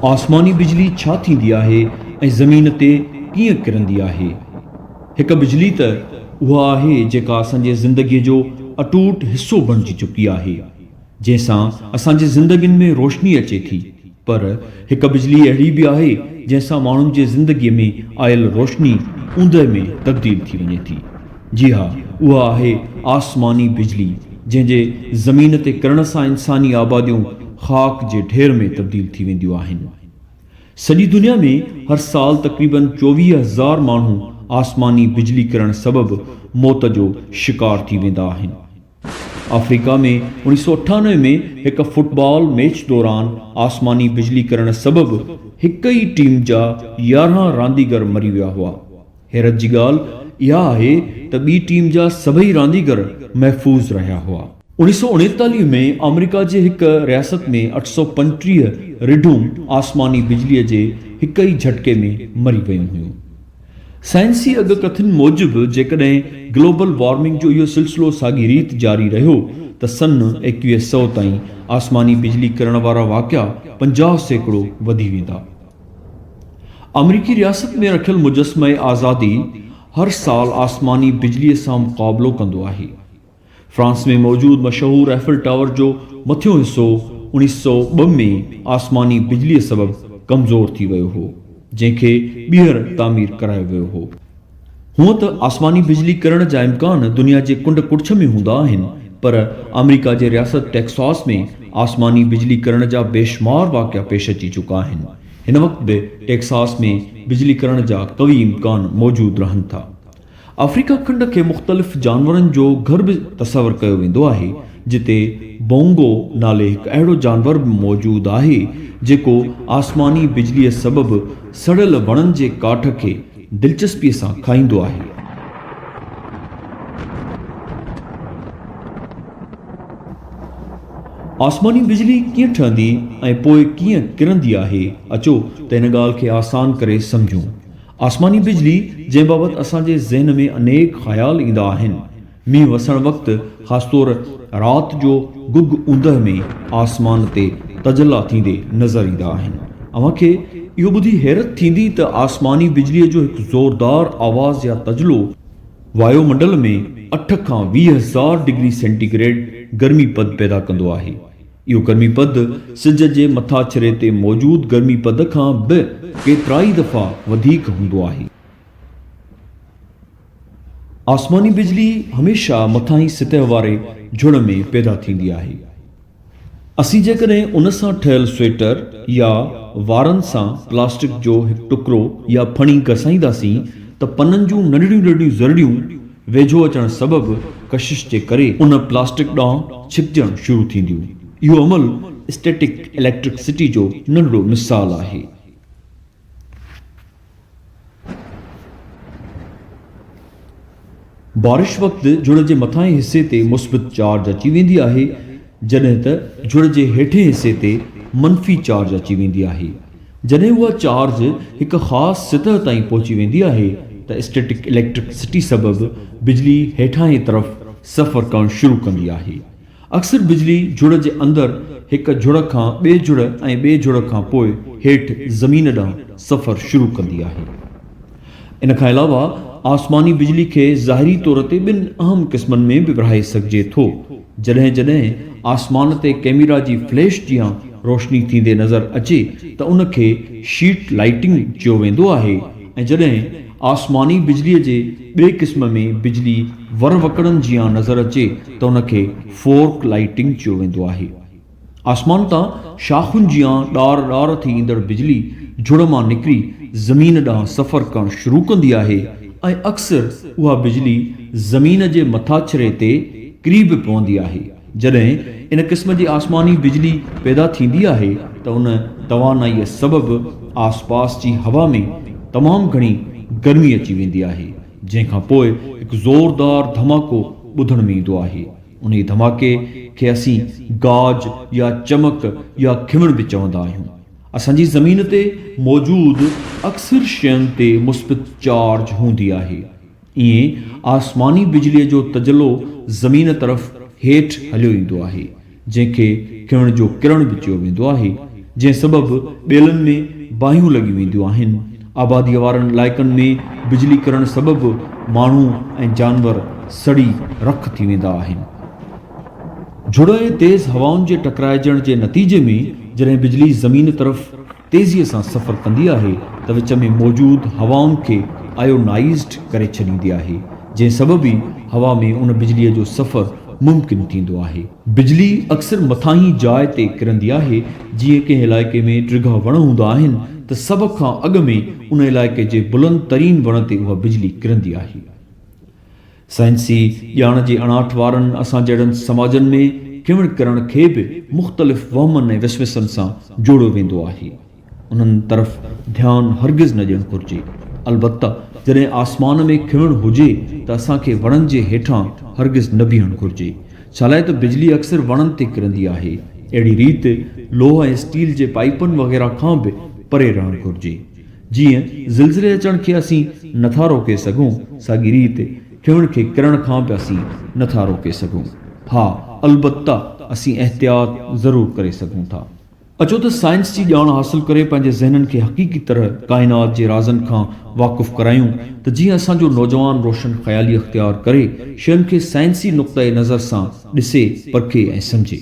آسماني بجلي ڇا ٿيندي آهي ۽ زمين تي ڪيئن ڪرندي آهي؟ هڪ بجلي ته اها آهي جيڪا اسان جي زندگيء جو اٽوٽ حصو بڻجي چڪي آهي، جنهن سان اسان جي زندگين ۾ روشني اچي ٿي، پر هڪ بجلي اهڙي به آهي جنهن سان ماڻهن جي زندگيء ۾ آيل روشني اوندهه ۾ تبديل ٿي وڃي ٿي. جي ها، اها آهي آسماني بجلي، جنهن جي زمين تي ڪرڻ سان انساني آباديون خاڪ جي ڍير ۾ تبديل ٿي وينديون آهن. سڄي دنيا ۾ هر سال تقريباً چوويهه هزار ماڻهو آسماني بجلي ڪرڻ سبب موت جو شڪار ٿي ويندا آهن. آفريڪا ۾ اوڻيهه سؤ اٺانوي ۾ هڪ فٽبال ميچ دوران آسماني بجلي ڪرڻ سبب هڪ ئي ٽيم جا يارهن رانديگر مري ويا هئا. حيرت جي ڳالهه اها آهي ته ٻي ٽيم جا سڀئي رانديگر محفوظ رهيا هئا. اوڻيهه سؤ اڻيتاليهه ۾ آمريڪا جي هڪ رياست ۾ اٺ سؤ پنٽيهه رڍون آسماني بجليء جي هڪ ئي جهٽڪي ۾ مري ويون هيون. سائنسي اڳ ڪٿن موجب جيڪڏهن گلوبل وارمنگ جو اهو سلسلو ساڳي ريت جاري رهيو ته سن ايڪويهه سؤ تائين آسماني بجلي ڪرڻ وارا واقعا پنجاهه سيڪڙو وڌي ويندا. آمريڪي رياست ۾ رکيل مجسمه آزادي هر سال آسماني بجلي سان مقابلو ڪندو آهي. فرانس ۾ موجود مشهور ايفل ٽاور جو مٿيون حصو اڻيهه سؤ ٻه ۾ آسماني بجلي سبب ڪمزور ٿي ويو هو، جنهن کي ٻيهر تعمير ڪرايو ويو هو. هونء ته آسماني بجلي ڪرڻ جا امڪان دنيا جي ڪنڊ ڪڙڇ ۾ هوندا آهن، پر آمريڪا جي رياست ٽيڪساس ۾ آسماني بجلي ڪرڻ جا بيشمار واقعا پيش اچي چڪا آهن. هن وقت به ٽيڪساس ۾ بجلي ڪرڻ جا قوي امڪان موجود رهن ٿا. آفريڪا کنڊ کي مختلف جانورن جو گهر به تصور ڪيو ويندو آهي، جتي بونگو نالي هڪ اهڙو جانور به موجود آهي، جيڪو آسماني بجليء سبب سڙيل وڻن جي ڪاٺ کي دلچسپيء سان کائيندو آهي. آسماني بجلي ڪيئن ٺهندي ۽ پوء ڪيئن ڪرندي آهي؟ اچو ته ان ڳالهه کي آسان ڪري سمجهون. آسماني بجلي، جنهن بابت اسان جي ذهن ۾ انيڪ خيال ايندا آهن، مينهن وسڻ وقت خاص طور رات جو گگ اوندهه ۾ آسمان تي تجلا ٿيندي نظر ايندا آهن. اوهان کي اهو ٻڌي حيرت ٿيندي ته آسماني بجليء جو هڪ زوردار آواز يا تجلو، وايو منڊل ۾ اٺ کان ويهه هزار ڊگري سينٽي گريڊ گرمي پد پيدا ڪندو آهي. اهو گرمي پد سج جي مٿاڇري تي موجود گرمي پد کان به ڪيترائي دفعا وڌيڪ هوندو آهي. آسماني بجلي هميشه مٿاهين سطح واري جھڙ ۾ پيدا ٿيندي آهي. اسين جيڪڏهن ان سان ٺهيل سويٽر يا وارن سان پلاسٽڪ جو هڪ ٽڪرو يا ڦڻي گسائينداسين ته پنن جون ننڍڙيون ننڍڙيون ذرڙيون ويجھو اچڻ سبب ڪشش جي ڪري ان پلاسٽڪ ڏانهن ڇڪجڻ شروع ٿينديون. اهو عمل اسٽيٽڪ اليڪٽرڪ سٽي جو ننڍڙو مثال آهي. بارش وقت جڙ جي مٿانهين حصي تي مثبت چارج اچي ويندي آهي جڏهن ته جڙ جي هيٺين حصي تي منفي چارج اچي ويندي آهي. جڏهن اها چارج هڪ خاص سطح تائين پهچي ويندي آهي ته اسٽيٽڪ اليڪٽرڪ سٽي سبب بجلي هيٺانهين طرف سفر ڪرڻ شروع ڪندي آهي. اڪثر بجلي جھڙ جي اندر ھڪ جھڙ کان ٻئي جھڙ ۽ ٻئي جھڙ کان پوء ھيٺ زمين ڏانھن سفر شروع ڪندي آھي. ان کان علاوه آسماني بجلي کي ظاھري طور تي ٻن اھم قسمن ۾ به ورھائي سگھجي ٿو. جڏھن جڏھن آسمان تي ڪئميرا جي فليش جيان روشني ٿيندي نظر اچي ته ان کي شيٽ لائيٽنگ چيو ويندو آھي ۽ جڏھن آسماني بجليء جي ٻئي قسم ۾ بجلي وروڪڙن جيان نظر اچي ته ان کي فورڪ لائيٽنگ چيو ويندو آهي. آسمان تان شاخن جيان ڏار ڏار ٿي ايندڙ بجلي جھڙ مان نڪري زمين ڏانهن سفر ڪرڻ شروع ڪندي آهي ۽ اڪثر اها بجلي زمين جي مٿاڇري تي ڪري به پوندي آهي. جڏهن ان قسم جي آسماني بجلي پيدا ٿيندي آهي ته ان توانائيء سبب آسپاس جي هوا ۾ تمام گهڻي گرمي اچي ويندي آهي، جنهن کان پوء هڪ زوردار ڌماڪو ٻڌڻ ۾ ايندو آهي. انهيء ڌماڪي کي اسين گاج يا چمڪ يا کمڻ به چوندا آهيون. اسان جي زمين تي موجود اڪثر شين تي مثبت چارج هوندي آهي. ائين آسماني بجليء جو تجلو زمين طرف هيٺ هليو ايندو آهي، جنهن کي ڪهڻ جو ڪرڻ به چيو ويندو آهي، جنهن سبب ٻيلن ۾ باهيون لڳيون وينديون آهن. آباديء وارن علائقن ۾ بجلي ڪرڻ سبب ماڻهو ۽ جانور سڙي رک ٿي ويندا آهن. جھڙو ۽ تيز هوائن جي ٽڪرائجڻ جي نتيجي ۾ جڏهن بجلي زمين طرف. تيزيء سان سفر ڪندي آهي ته وچ ۾ موجود هوائن کي آيونائيزڊ ڪري ڇڏيندي آهي، جنهن سبب ئي هوا ۾ ان بجليء جو سفر ممڪن ٿيندو آهي. بجلي اڪثر مٿاهين جاء تي ڪرندي آهي، جيئن ڪنهن علائقي ۾ ڊگها وڻ هوندا آهن ته سڀ کان اڳ ۾ ان علائقي جي بلند ترين وڻ تي اها بجلي ڪرندي آهي. سائنسي ڄاڻ جي اڻاٺ وارن اسان جهڙن سماجن ۾ کيون ڪرڻ کي به مختلف وهمن ۽ وسوسن سان جوڙيو ويندو آهي. انهن طرف ڌيان هرگز نه ڏيڻ گهرجي. البته جڏهن آسمان ۾ کيون هجي ته اسان کي وڻن جي هيٺان هرگز نه بيهڻ گهرجي. ڇالاء ته بجلي اڪثر وڻن تي ڪرندي آهي. اهڙي ريت لوهه ۽ اسٽيل جي پائيپن وغيره کان به پري رهڻ گهرجي. جيئن زلزلي اچڻ کي اسين نه ٿا روڪي سگهون، ساڳي ريت ڦيڻ کي ڪرڻ کان به اسين نه ٿا روڪي سگهون. ها، البته اسين احتياط ضرور ڪري سگهون ٿا. اچو ته سائنس جي ڄاڻ حاصل ڪري پنهنجي ذهنن کي حقيقي طرح ڪائنات جي رازن کان واقف ڪرايون ته جيئن اسان جو نوجوان روشن خيالي اختيار ڪري شين کي سائنسي نقطه نظر سان ڏسي، پرکي ۽ سمجهي.